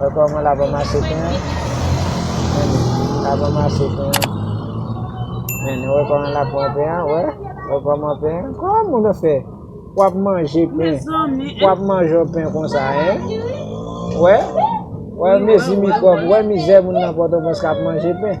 Wè kòman la banm achte pen an. La banm achte pen an. Men nou wè kòman la pran pen an, wè. Wè kòman pen an. Kòman moun yo fè pou ap manje pen. Pou ap manje yon pen konsa, hein. Wè. Wè mezi mikwòb, wè mizè moun nan Pòtoprens k ap manje pen.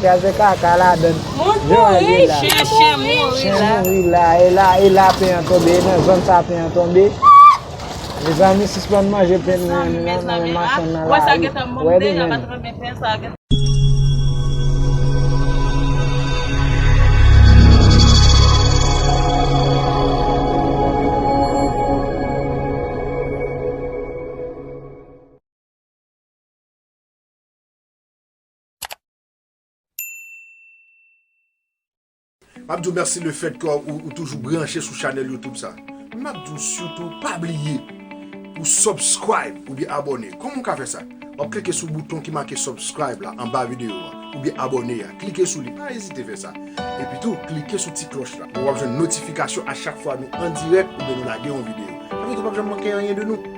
Kraze kaka ladann. Moun mouri, chen mouri. Chen mouri la. E la, e la pen an tonbe. E nan zòn sa pen an tonbe. Mezanmi sispann manje pen nou an nan men machann nan la ri. Wè li menm. Map diw merci le fait que ou toujou branche sou chanel youtube sa. Map diw sitou pa bliye pou subscribe ou byen abone. Koman ou ka fè sa? Wap klike sou bouton ki make subscribe la anba video a ou byen abone a. Klike sou li pa ezite fè sa. Epi tou klike sou ti kloch la pou wap jwenn notifikasyon a chak fwa nou an direk ou byen nou lage yon video. Sa vle di ou pap janm manke anyen de nou.